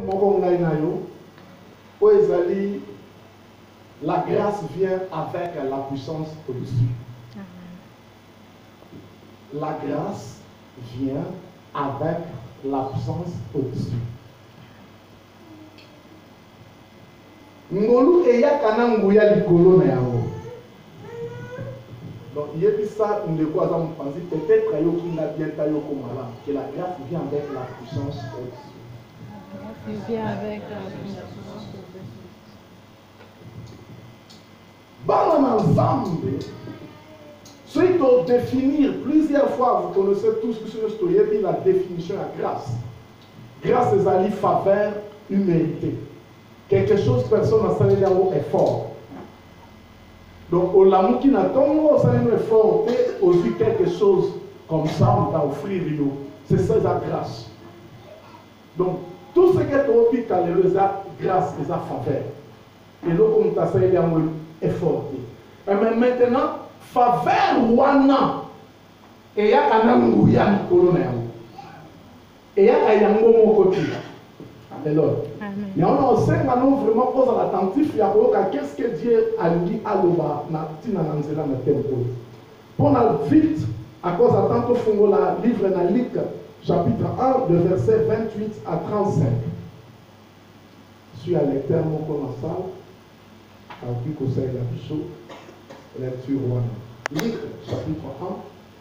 moko ngai na yo oyo ezali la grâce vient avec la puissance reçue la grâce vient avec la puissance reçue Ngolu eyaka na nguya likolo na yango. Donc yebisa ndeko aza mupanzi peut etre ayoki nga bien ta yoko malamu que la grace vient avec la puissance ex. Bana na Nzambe soki to définir plusieurs fois vous connaissez tous biso nyonso toyebi la définition ya grace. Grace ezali faveur humilité. Quelque chose personne asaleli yango effort donc olamuki na tongo osali no effort te ozwi quelque chose comme ça on t'a offrir yo c'est ça eza grâce donc tout ce que toobika lelo eza grâce eza faveur eloko moto asaleli yango effort te eh, mais maintenant faveur wana eyaka na nguya likolo na yango Eyaka yango moko ti lelo. Yango na osenga no vraiment ozala attentif ya koyoka qu'est-ce que Dieu alingi aloba na ntina na nzela na thème oyo. Mpo na vite à cause ya temps tofungola livre na Luc chapitre 1 de verset 28 à 35. Suis à lecteur moko na salle akoki kosalela biso lecture wana. Luc chapitre 1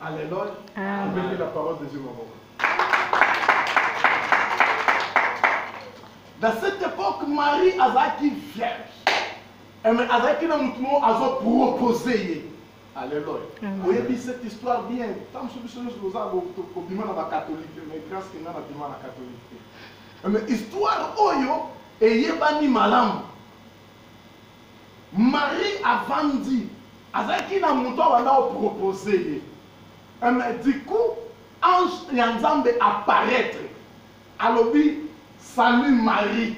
Alléluia. Amen. la parole de Dieu maboko. Dans cette époque, Marie azaki vierge. Eh, mais azaki na mutu moko azo proposer ye. Alléluia. Oyebi cette histoire bien. Tant que biso nyonso toza kobima na bakatolike mais grâce ke ngai nabima na katolike te. Eh, mais histoire oyo eyebani malamu. Marie avandi azalaki na mutu abanda ko propose ye eh mais du coup ange ya nzambe apparaitre alobi salut Marie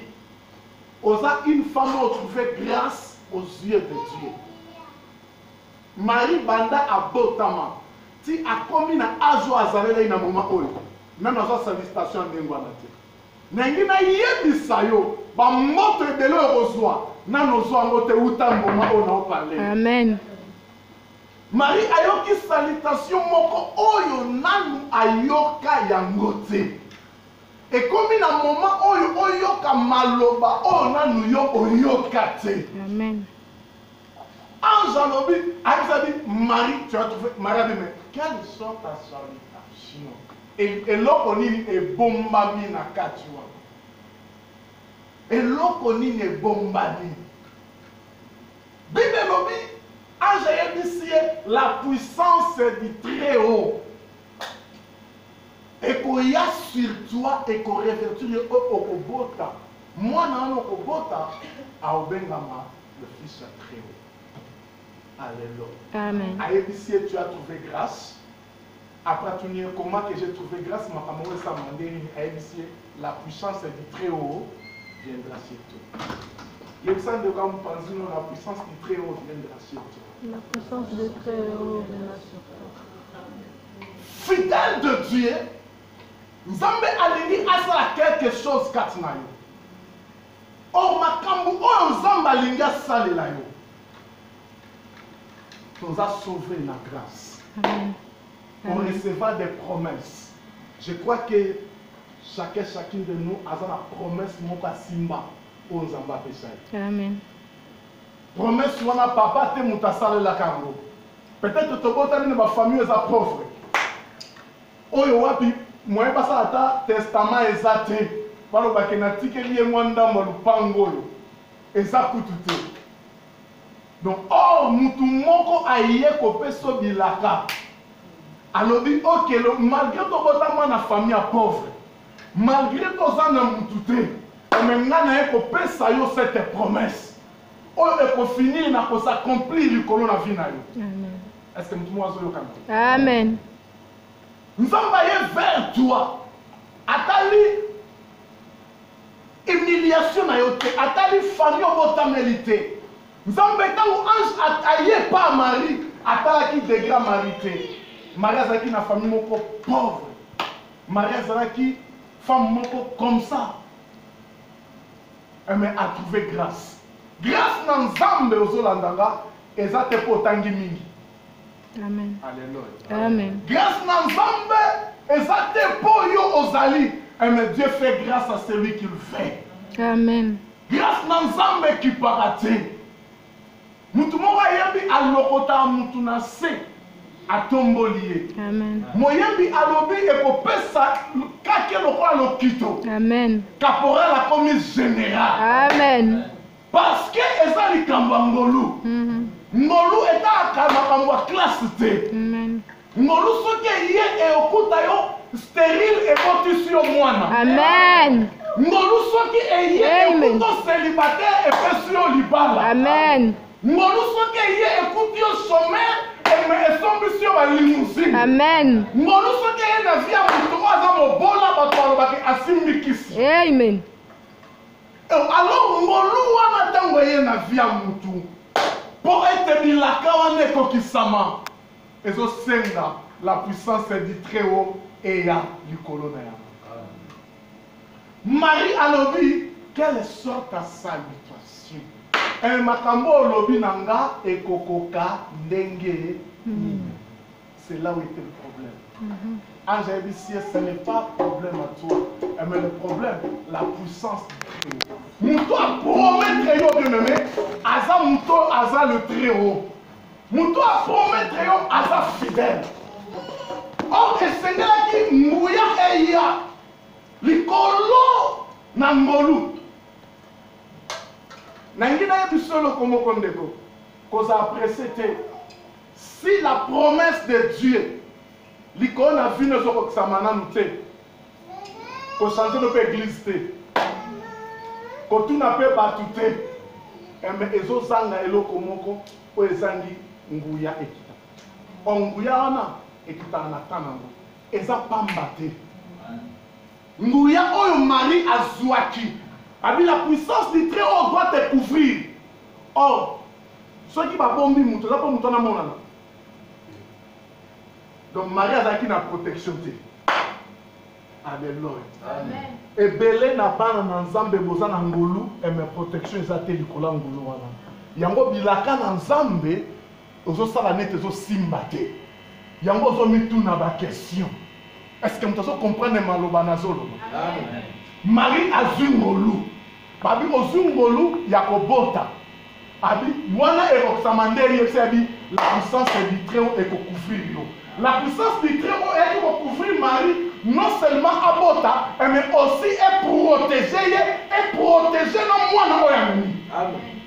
oza une femme oyo trouve grace aux yeux de Dieu Marie banda abotama ti akomi na age oyo azalelai na moment oyo nanu azua salutation ya ndenge wana te. Nalingi nayebisa yo ba moto ebele oyo okozwa nano ozwa yango te uta mboma oyo nao parle. Amen. Marie ayoki salutation moko oyo nanu ayoka yango te. Ekomi na moment oyo oyoka maloba oyo nanu yo oyoka te. Amen. Ange alobi ayebisa bi Marie tu as trouvé Marie abi mais quelle sont ta salutation eloko nini ebombami na kati wana eloko nini ebombami bible elobi ange ayebisi ye la puissance du très haut Ekoya sur toi et ko revertir yo oh okobota mwana wana okobota aobengama le fils ya très haut Alleluia ayebisi ye tu as trouve grace après atuni ye comment que j'ai trouve grace makambo yango esalama nde nini ayebisi ye la puissance du très haut viendra sur toi yebisa ndeko ya mopanzino la puissance du très haut viendra sur toi la puissance du très haut viendra sur toi fidèle de Dieu nzambe alingi asala quelque chose kati na yo or makambo oyo nzambe alingi asalela yo toza sauve na grâce on recevra des promesses je crois que chacun chacune de nous aza na promesse moko asimba oyo nzambe apesa ye amen Promesse wana papa te moto asalelaka yango. Peut-être tobotami na ba famille eza pauvre. Oyo wapi moyen basala ata testament eza te. Baloba ke natikeli ye mwa ndambo ya lupango oyo. Eza kutu te. Donc or moto moko aye kopesa yo bilaka. Alobi okelo malgre tobotama na famille ya pauvre. Malgre to zanga mutu te mais nga naye ko pesa yo cette promesse oyo eko finir na ko s'accomplir likolo na vie na yo. Amen. Est-ce que mutu mo azo yoka nga? Amen. Nzambe aye vers toi atali humiliation na yo te atali famille obotameli te nzambe ntango ange aye pa marie atalaki degra marie te marie azalaki na famille moko pauvre Marie azalaki femme moko comme ça. Eh, mais a trouvé grâce. Grâce na Nzambe ozolanda nga eza te mpo otangi mingi. Amen. Alléluia. Amen. Grâce na Nzambe eza te mpo yo ozali. Eh, mais Dieu fait grâce à celui qu'il veut. Amen. Grâce na Nzambe ekipaka te. moto moko ayembi alokota moto na se atomboli ye moyembi alobi ekopesa kake lokola lokito kaporal akomi general amen parceke eza likambo ya ngolu mhm. ngolu etalaka makambo ya klase te Ngolu soki eye eyokuta yo sterile ebotisi yo mwana. Amen. Ngolu soki eye ekuta célibataire epesi yo libala. Amen. Ngolu soki eye ekuti yo chômeur eme esombisi yo ba limousine. Amen. Ngolu soki eye na vie ya moto oyo aza mobola bato balobaki asimbi kisi. Amen. Alors ngolu wana ntango eye na vie ya motu mpo ete bilaka wana ekokisama Ezo senga la puissance du très haut eya likolo na yango. Marie alobi quelle sorte ya salutation eh makambo oyo olobi na nga ekokoka ndenge nini? C'est là où etait le problème. Mhm. Ange ayebisi ye ce n'est pas problème à toi eh, mais le problème la puissance du très haut. Moto apromettre yo bien aimé aza moto aza le très haut. moto aprometre yo aza fidèle or esengelaki nguya eya likolo na ngolu nangi nayebi biso eloko moko ndeko kozala presse te si la promesse de dieu likolo na vino ezokokisama nanu te kochange no mpe eglise te kotuna mpe bato te eme eh, ezozanga eloko moko oyo ezangi nguya ekita. Or nguya wana ekitaka na temps nango, eza pamba te. Nguya oyo Marie azuaki, abi la puissance du très haut doit te couvrir. Or soki babombi moto eza mpo moto wana amonana. Donc Marie azalaki na protection te. Alleluia. Amen. Ebele na bana na Nzambe boza na ngolu et ma protection eza te likolo ya ngolu wana. Yango bilaka na Nzambe ozosala nete ezosimba te. Yango ozomituna ba question. Est-ce que moto azocomprendre maloba nazoloba? Marie azwi ngolu. Abi ozui ngolu ya kobota. Abi wana ekokisama nde ye se abi la puissance du très haut eko couvrir yo. La puissance du très haut eyaki ko couvrir Marie non seulement abota eh, mais aussi e proteger ye e proteger na mwana oyo amemi. Amen.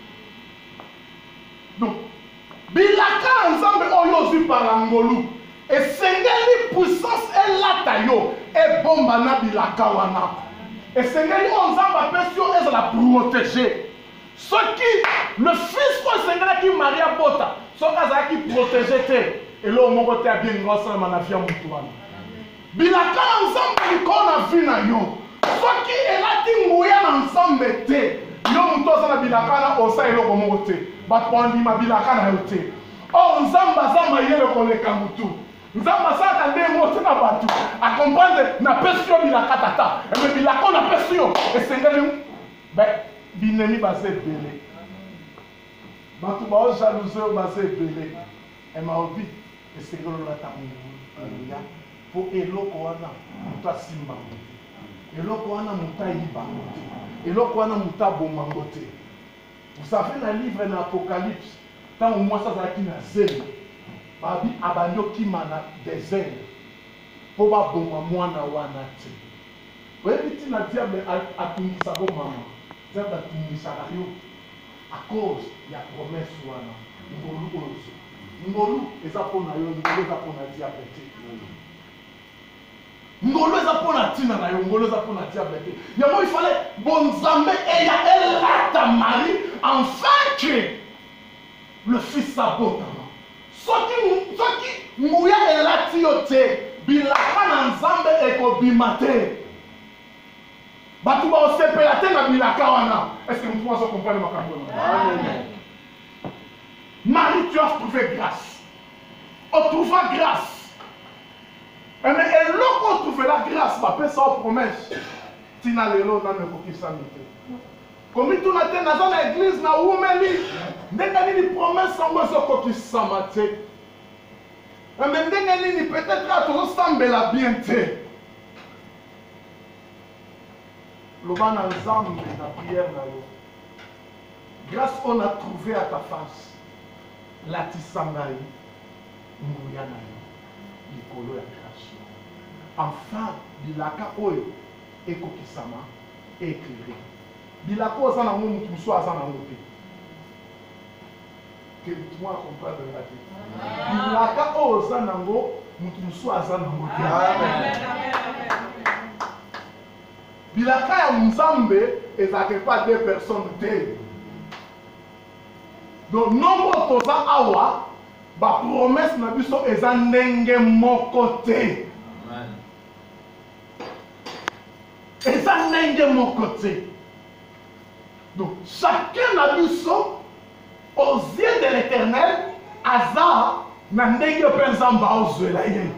Donc Bilaka na Nzambe oyo ozwi par la ngolu, esengeli puissance elata yo, ebomba na bilaka wana. Esengeli oyo Nzambe apesi yo ezala protege. Soki le fils oyo esengelaki Marie abota, soki azalaki protege te, eloko moko te ya bien elingi kosalama na vie ya moto wana. Bilaka na Nzambe likolo na vie na yo. Soki elati nguya na Nzambe te, yo moto oza na bilaka na osa eloko moko te. Bato bandima bilaka na yo te. Or Nzambe aza mayele koleka motu. Nzambe asalaka nde yango te na bato. Akomprendre napesi yo bilaka tata. Eme eh, bilaka napesi yo esengeli binemi baza ebele. Bato baojalouze oyo baza ebele. Eh ma oby esengeli olata nguya po eloko wana mutu asimba yango te eloko wana mutu ayiba yango te eloko wana mutu aboma yango te vous savez na livre na apocalypse tango mwasi azalaki na zemi babi abandi okima na desert po baboma mwana wana te oyebi ntina diable atungisaka yo mama diable atungisaka yo A cause ya promesse wana ngolu oyo ozwi. Ngolu eza mpo na yo, ngolu eza mpo na diable te. Ngolu eza mpo na ntina na yo, ngolu eza mpo na diable te. Yango il fallait bonzambe eya elata Marie enfin que le fils abotama. Soki soki nguya elati yo te, bilaka na Nzambe ekobima te. Bato bakosepela te na bilaka wana. Est-ce que mutu azo comprendre makambo Amen. Marie, tu as trouvé grâce. On trouva grâce. Eh, mais eloko on trouve la grâce, ma paix sans promesse. Tina lelo na me kokisa mite. komituna te naza na eglize na wumeli ndenge nini promese yango ezokokisama te eh, me ndenge nini peut-être tozosambela bien te loba na nzambe na prière na yo grâce on a trouvé à ta face latisa ngai nguya na yo likolo ya création enfin bilaka oyo ekokisama éclairé bilaka oyo aza nango moto mosusu aza nango te que moi a comprendre nga te bilaka oyo oza nango moto mosusu aza nango te bilaka ya nzambe ezalaka epa deux personnes te donc nongo toza awa bapromese na biso eza ndenge moko te eza ndenge moko te donc chacun na biso aux yeux de l'éternel aza na ndenge mpe nzambe aozwela ye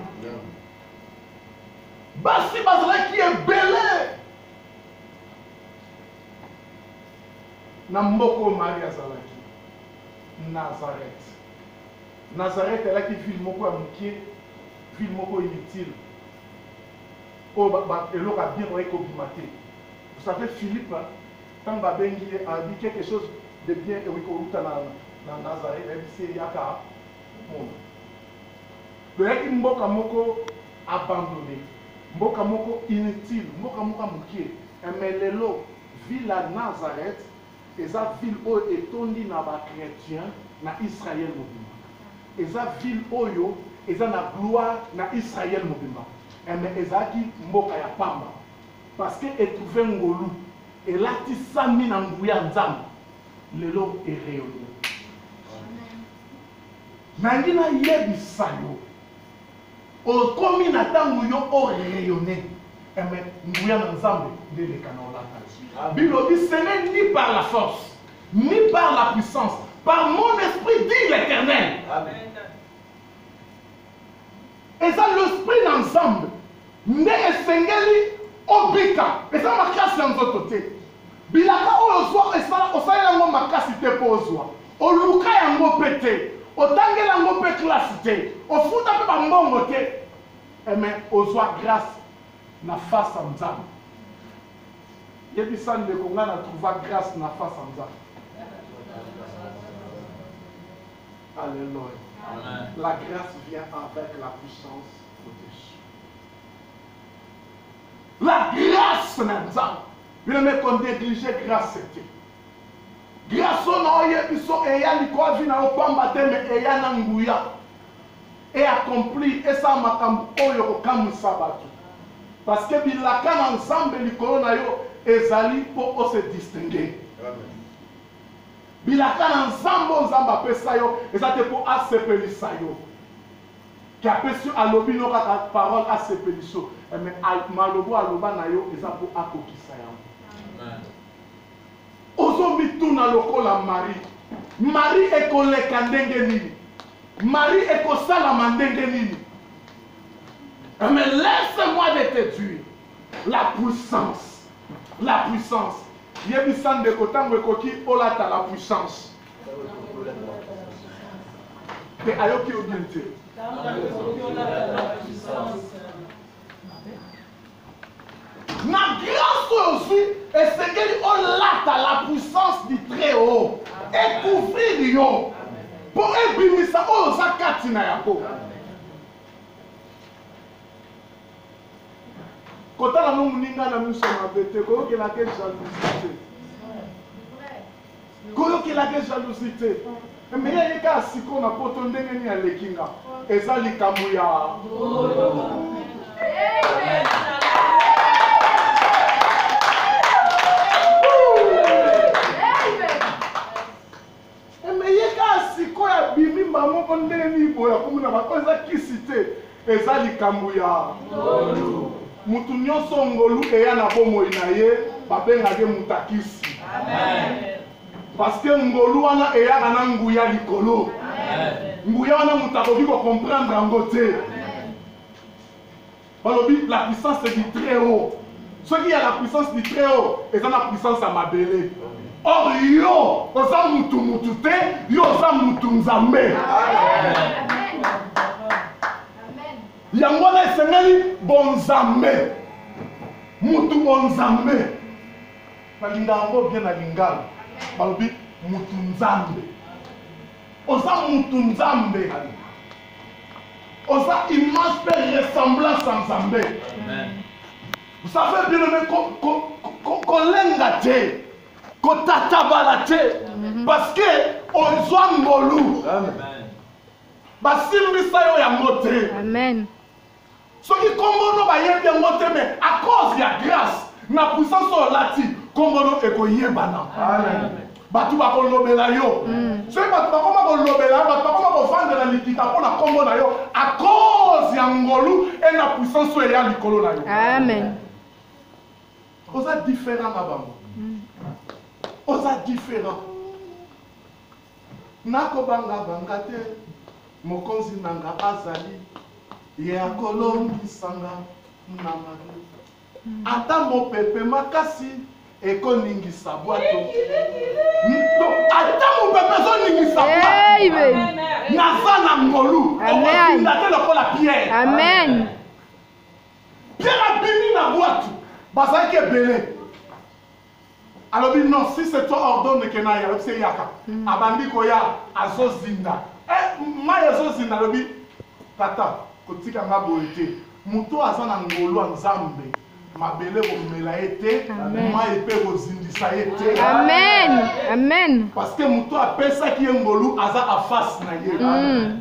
basi bazalaki ebele na mboka oyo mari azalaki nazareth nazareth elaki ville moko ya moke ville moko inutile Oyo ba ba eloko ya bien oye ko bima te vous savez Philippe tangu ba bengi ye alobi quelque chose de bien ekoki ko wuta na na Nazareth ayebisi ye yaka omona toyaki mboka moko abandonne mboka moko inutile mboka moko ya mukie mais lelo ville ya Nazareth Eza ville oyo etondi na ba chretiens na Israël mobimba. Eza ville oyo eza na gloire na Israël mobimba. Eh mais ezalaki mboka ya pamba. Parce que e trouver ngolu elatisami na nguya ya Nzambe. Lelo e rayonner. Nalingi nayebisa yo. Okomi na tango yo o rayonne eh mais nguya na Nzambe nde eleka na olata yo. Bible dit ce n'est ni par la force ni par la puissance par mon esprit dit l'Eternel. Amen. Eza l'esprit na Nzambe nde esengeli obika eza makasi ya nzoto te. Bilaka oyo ozwaka esala osalela yango makasi te mpo ozwa, oluka yango mpe te, otangeli yango mpe classe te, ofuta mpe ba mbongo te eh mais ozwa grace na face ya Nzambe. Yebisa ndeko nga na trouva grace na face ya Nzambe. Alleluia. La grace vient avec la puissance. La grâce na Nzambe. Bino me ko negliger grâce te. Grâce oyo na oyebi so eya likolo ya vie na yo pamba te me eya na nguya. E accomplir esala makambo oyo kokamwisa bato. Parce que bilaka na Nzambe likolo na yo ezali mpo o se distinguer. Bilaka na Nzambe oyo Nzambe apesa yo eza te mpo asepelisa yo. Ke apesi alobi no kaka parole asepeliso eh, me maloba oyo aloba na yo eza mpo akokisa yango. Ozomituna lokola Marie, Marie ekoleka ndenge nini? Marie ekosalama ndenge nini? Eh, me laisse-moi de te dire la puissance, la puissance. Yebisa ndeko ntango ekoki olata la puissance. Mais alors qu'il bien te. Na grâce oyo ozwi esengeli olata la puissance du très haut ekouvrir yo mpo ebimisa oyo oza kati na yango kotala no moninga na miso mabe te koyokelaka jalousie te koyokelaka ye jalousie te mais ye kaka sikoyo na poto ndenge nini aleki nga eza likambo ya mais ye kaka sikoyo abimi mbango mpo ndenge nini boye akomi na bato eza kisi te Eza likambo ya ngolu. Mutu nyoso ngolu eya na bomoi na ye babengaka ye mutakisi. Amen. Parce que ngolu wana eyaka na nguya likolo. Amen. nguya wana moto akoki kocomprendre yango te balobi la puissance du très haut soki ya la puissance du très haut eza na puissance ya mabele or yo oza mutu mutu te yo oza mutu nzambe yango wana esengeli bonzambe mutu bonzambe balinga yango bien na lingala balobi mutu nzambe oza mutu nzambe oza image mpe ressemblance ya nzambe vous savez bien aimé kolenga te kotatabala te mhm. parce que ozwa ngolu basimbisa yo yango te soki kombo no bayebi yango te me a cause ya grace na puissance oyo olati kombo no ekoyebana bato bakolobela yo mm. soki bato bakoma kolobela yo bato bakoma kovandela likita mpo na kombo na yo a cause ya ngolu e na puissance oyo eya likolo na yo amen oza différent na bango mm. oza différent Nako banga banga te, Mokonzi na nga azali, Ye ako longisa nga na mabe. Ata mopepe makasi eko ningisa bwato, Ata mopepe ezo ningisa bwato, Naza na ngolu, oko tinda te lokola Pierre. Amen. Pierre abimi na bwato, bazalaki ebele. alobi non si c'est toi ordonne que naye alobi se yaka mm. abandi koya azozinda eh, mai azozinda alobi tata kotika nga boye te moto aza na ngolu ya nzambe mabele komela ye te mai mpe kozindisa ye te amen amen parce que moto apesaki ye ngolu aza afase na ye mm.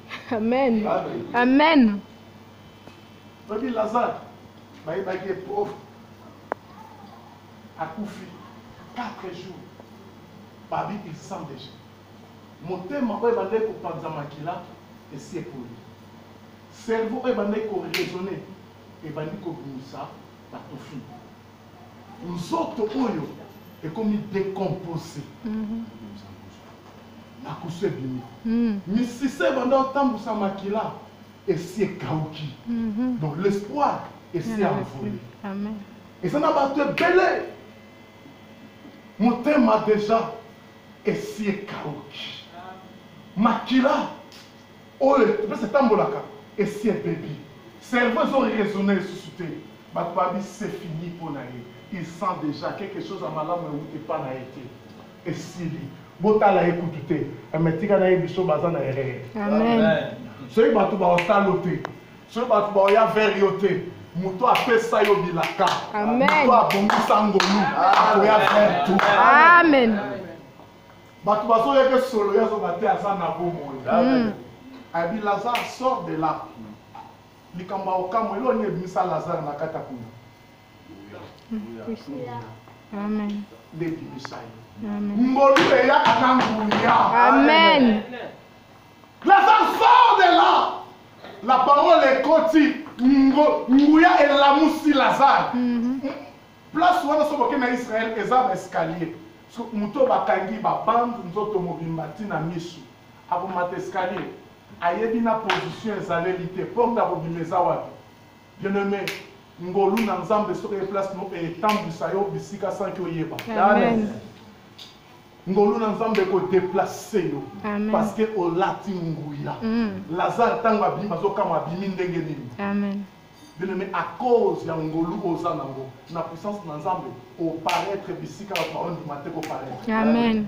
Amen. Amen. Babi Lazare, baye baki est pauvre. Akufi 4 jours. Babi il sent déjà. Motema oyo ebandaki kopanza makila esi epoli. Cerveau oyo ebandaki koraisonne ebandi kobimisa batufi. Nzoto oyo ekomi décompose. Mm -hmm. makusu ebimi mm. misisa ebanda otambusa makila esi ekauki mm -hmm. donc l'espoir esi envole eza na bato ebele motema deja esi ekauki makila oyo mpesa etambolaka esi ebebi cerveau ezo raisonne lisusu te bato babi se fini mpo na ye il sent déjà quelque chose ya malamu euti epa na ye te esili botala ye kutu te eme eh, tika na ye biso baza na erreur soki bato baosala yo te soki bato baoya vere yo te moto apesa yo bilaka moto abongisa ngolu akoya vere tu amen bato bazoyeke solo ye azoba te aza na bomoi hmm. abi lazare sort de là likambo ya okamwa eloo nini ebimisa lazare na kati ya kuna ndebimisa ye ngolu eyaka na nguya amen lazare sort de là la parole ekoti nguya elamusi lazare mhm. place wana soki okei na israel eza na escalier moto bakangi babande nzoto mobimba ntina misu akomata escalier ayebi na position ezaleli te porte akobima eza wapi Bien aime ngolu na nzambe soki eye place no etambwisa yo bisika sanki oyeba amen ngolu na nzambe ekodeplace yo parce que olati nguya mm. lazare ntango abimi azokama abimi ndenge nini amen bien aime à cause ya ngolu oza nango na puissance na nzambe oparaître bisika bato baondima te koparaître amen, amen.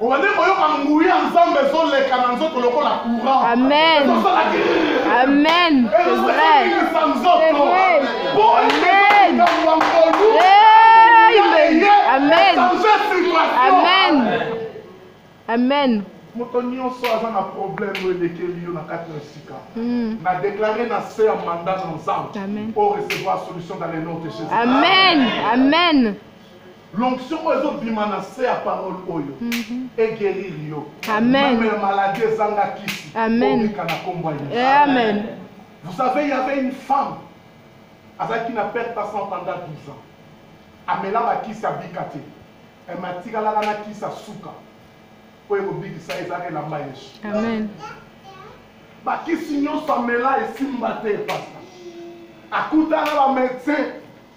obandi koyoka nguya ya nzambe ezoleka na nzoto lokola courant amen amen ezolekisa nzoto boyekambo nkolu amen amen amen moto nyonso aza na problème oyo elekeli yo na kati na esika hmm. na déclare na se ya manda na nzambe o recevoir solution dans le nom de jésus amen amen L'onction oyo ezo bima na se ya parole oyo mhm. e guérir yo. Amen. Même maladie ezanga kisi. Amen. Obika na kombo ya Yesu. Eh, amen. Vous savez, il y avait une femme azalaki na perte à 100 pendant 12 ans. Amela bakisi abika te. Elle m'a tikalaka na kisi asuka. Oyo ekobikisa ezalaka elamba Yesu. Amen. bakisi nyonso amela esimba te pasta akutana bamédecin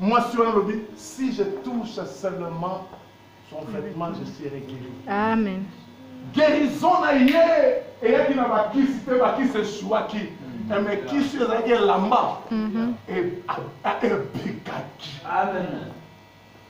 Mwasi wana alobi si je touche seulement son vêtement je serai guéri. Amen. Guérison na ye eyaki na bakisi te bakisi esuaki eme kisi ezalaki elamba ebikaki. Amen.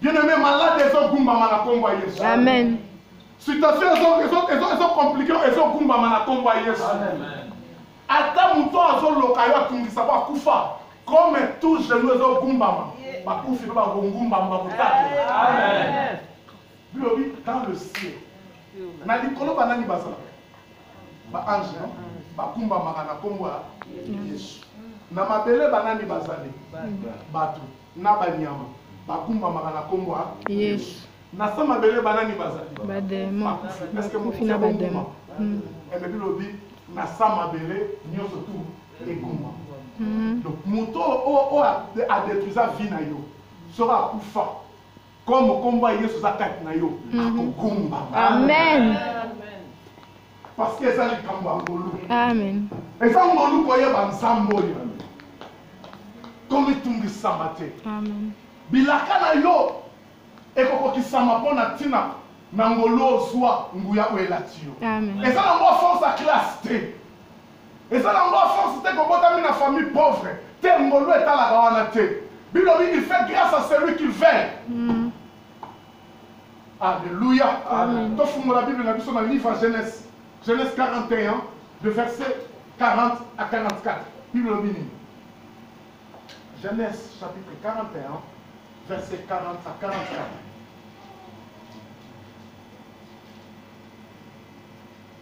Bien aimé malade ezo gumbama na kombo ya Yesu. Amen. Situation ezo ezo ezo ezo compliqué ezo gumbama na kombo ya Yesu. Amen. Ata moto azo loka yo atungisa ko akufa comme tout genou ezo gumbama bakufi pe bakogumbama bakotatu. Amen. Bilobi dans le ciel. Na likolo banani bazalaka? Ba ange non? Bakumbamaka na kombo ya Yesu. Na mabele banani bazali? Bato. Na banyama bagumbamaka na kombo ya Yesu. Na sa mabele banani bazali? Bademo. Bakufi na bademo. Hmm. Eh, mais bilobi na sa mabele nyonso tu egumba. Hmm. Donc moto oyo adetruisa vie na yo soki akufa Comme kombo ya Yesu za kati na yo, mm. akogumba. Amen. Parce que eza likambo ya ngolu. Amen. Eza ngolu koyeba nzambe oyo. Komitungisama te. Amen. Bilaka na yo ekokokisama mpo na ntina na ngolu ozwa nguya oyo elati yo. Eza na mwa force ya classe te. Eza na ngo sens te ko botami na famille pauvre te ngolu etalaka wana te bilobi il fait grâce à celui qui veille mm. Alléluia. Amen. Tofungola Bible na biso na livre ya Genèse. Genèse 41 de verset 40 à 44. Bible lobi nini? Genèse chapitre 41 verset 40 à 44.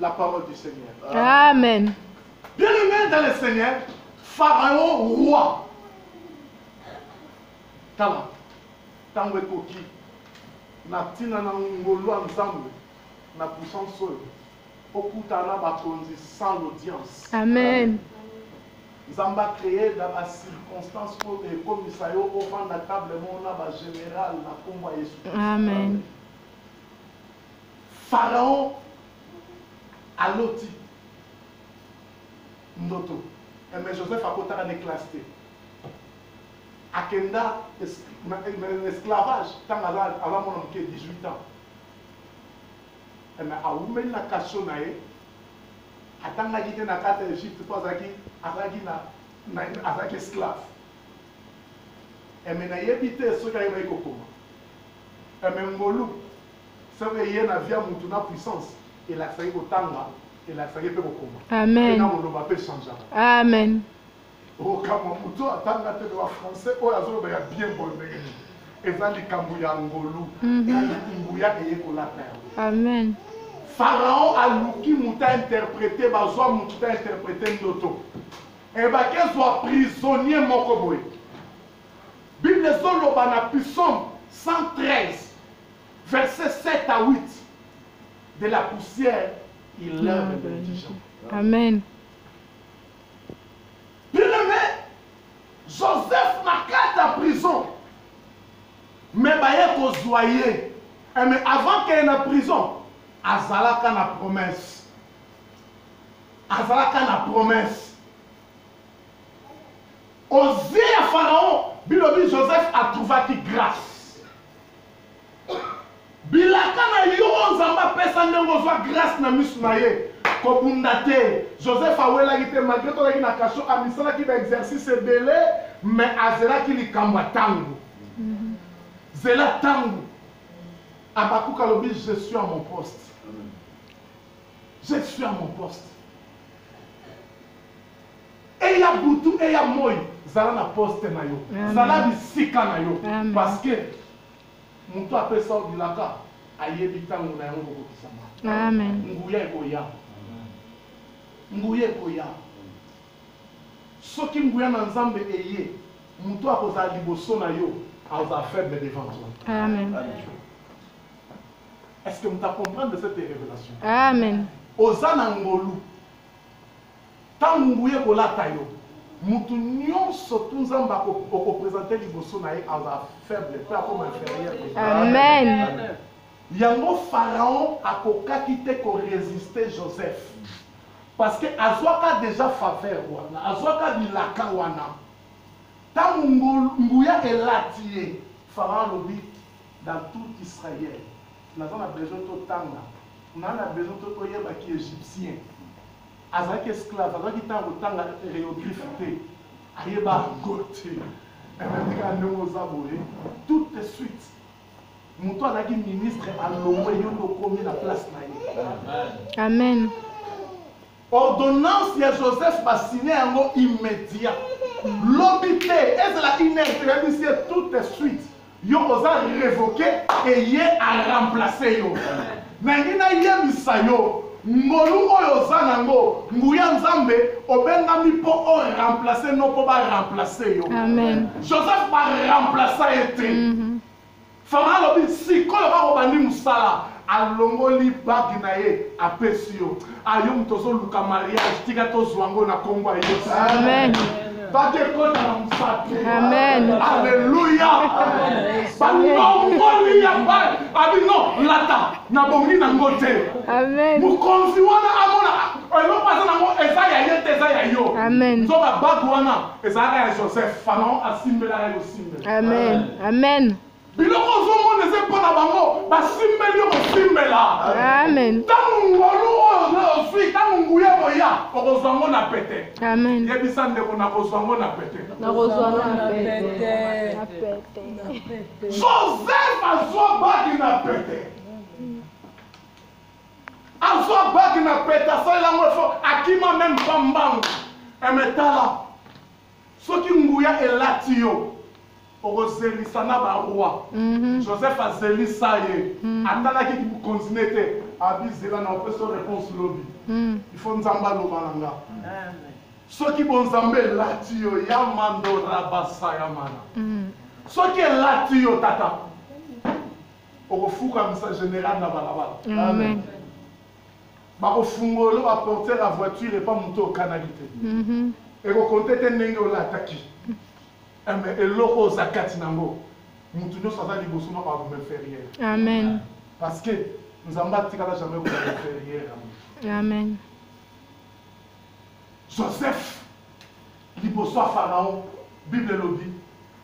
la parole du Seigneur. Amen. Bien aimé dans le Seigneur, Pharaon roi. Tala, ntango ekoki na ntina na ngolu ya Nzambe na puissance oyo okutana na bakonzi sans l'audience. Amen. Nzambe acree na bacirconstance oyo ekomisa yo ofanda table moko na bagénéral na nkombo ya Yesu. Amen. Amen. Pharaon aloti ndoto eh, mais Joseph akotaka ne classe te akenda na esclavage ntango aza mwana moke 18 ans eme eh, awumeli na kasio na ye atangaki te na kati ya egypte mpo azalaki azalaki na azalaki esclave eme eh, nayebi te soki ayebaki kokoma eme eh, ngolu soki eye na vie ya mutu na puissance elakisaki kotanga elakisaki mpe kokoma amen na koloba mpe changeaka amen okamwa moto atanga te ba français oyo azoloba ya bien boye ndenge nini eza likambo ya ngolu mhm. nguya eyekolaka yango amen pharaon aluki moto ainterprete bazwa moto ainterprete ndoto ebaki ezwa prisonnier moko boye Bible ezo loba na psaume 113 verset 7 à 8 de la poussière il lève le indigent. Amen. Bien-aimé, Joseph na kati ya prison mais baye kozwa ye eh, mais avant keye na prison azalaka na promesse azalaka na promesse Aux yeux ya Pharaon, bilobi Joseph atrouvaki grace. Bilaka na yo oyo Nzambe apesa ndenge ozwa grace na misu na ye. Kobunda te. Joseph awelaki te malgre tolaki na cachot, amisalaki ba exercice ebele mais azelaki likambo ya tango. Zela tango. Habacuc alobi je suis à mon poste. Je suis à mon poste. eya butu eya moi zala na poste na yo zala bisika na yo parce que moto apesa yo bilaka ayebi ntango na yango kokokisama nguya ekoya nguya ekoya soki nguya na nzambe eye moto akozala liboso na yo aza faible devant toi amen est ce que moto acomprendre cette révélation amen oza na ngolu Tangu nguya ekolata yo mutu nionso tu nzambe ako oko presenter liboso na ye azala faible pe akoma inferieur amen yango pharaon akokaki te ko resister joseph parce que azwaka deja faveur wana azwaka bilaka wana tangu nguya elati ye pharaon alobi dans tout israël naza na besoin totanga na na besoin toyeba ki égyptien Azalaki esclave, azwaki ntango kotanga hieroglyphe te, ayeba yango te. Emetika ndenge oza boye, tout de suite moto azalaki ministre alongwe yo nde okomi na place na ye. Amen. Ordonnance ya Joseph basine yango immédiat. Lobi te, ezala une heure, toyebisi ye tout de suite. Yo oza revoque et ye a remplacer yo. Nalingi nayebisa yo ngolu oyo oza nango nguya nzambe obengami mpo o remplacer no mpo ba remplacer yo. Amen. Joseph ba remplacer ye te. Mm -hmm. Fama alobi sikoyo bakobandi mosala alongoli bagi na ye apesi yo Ah, yo moto ozoluka mariage tika tozwa ngo na nkombo ya yesu amen bake ekota na mosapi amen aleluya banongoli ya bai abino lata nabongi na ngo te amen mokonzi wana amona eloko aza nango eza ya ye te eza ya yo amen nzoka bato wana ezalaka ya joseph fanaon asimbelaka ye kosimbela amen amen Biloko ozomona eza mpo na bango basimbeli yo kosimbela. Amen. Ntango ngolu oyo ozwi, ntango nguya boya, okozwa ngo na pete. Amen. Yebisa ndeko nakozwa ngo na pete. Nakozwa ngo na pete. Na pete. Joseph azwa bagi na pete. Azwa bagi na pete, asalela ngo efo, akima meme pa mbangu. Emetala. Soki nguya elati yo okozelisa na ba roi Joseph azelisa ye atalaki ki bokonzi ne te abi zela na opesa yo reponse lobi il faut nzambe aloba na nga soki bonzambe elati yo ya mando rabasa ya mana soki elati yo tata okofukamisa general na balabala bakofungolo ba porter ya voiture epa moto okanaki te mhm. ekokonte te ndenge olataki eh, me eloko oza kati nango moto nyonso aza liboso na bago inférieur amen parce que nzambe atikala jamais koza inférieur ya moto amen joseph liboso ya pharaon bible elobi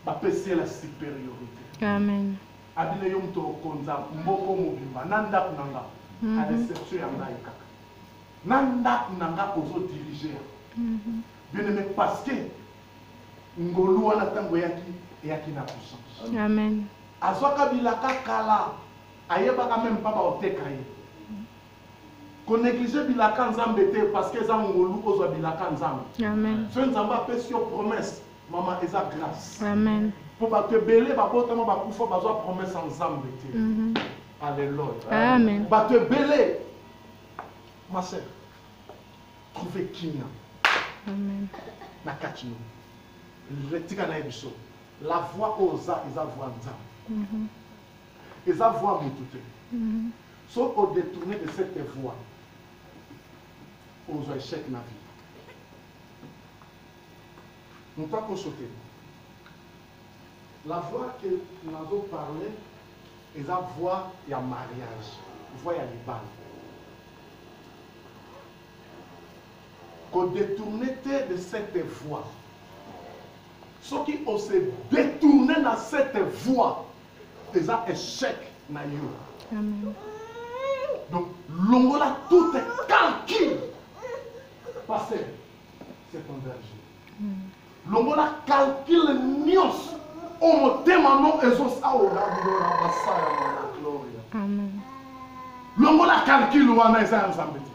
bapesi ye la supériorité amen Abile yo moto okonza mboko mobimba na ndaku na nga a l'exception ya ngai kaka na ndaku na nga ozo diriger bien aime parce que ngolu wana tango eyaki eyaki na puissance amen azwaka bilaka kala ayebaka meme pas baoteka ye koneglige bilaka nzambe te parce que eza ngolu ozwa bilaka nzambe soki nzambe apesi yo promesse Maman eza grâce. Amen. Mpo bato ebele babotama bakufa bazwa promesse ya Nzambe te. Mhm. Alléluia. Amen. Bato ebele ma sœur trouver kimia. Amen. Na kati yo. Retika na biso. La voix oza eza voix Nzambe. Mhm. Eza voix mutu te. Mhm. So au détourner de cette voix ozwa échec na vie. Moto akoso te. La voix que nazo parler eza voix ya mariage, voix ya libala. Ko detourner te de cette voix. Soki o se detourner na cette voix, eza echec na yo. Amen. Donc longola tout calcul. Pasteur longola calcule nyonso o motema no ezosaorabilora basala mwana gloria longola calcule wana eza ya nzambe te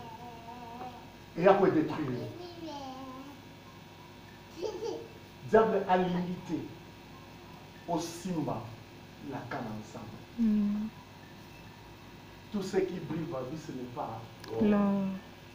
eya koedetruire diable alingi te osimba laka na nzambe mm. tout ce qui brille va vie ce n'est pas l'or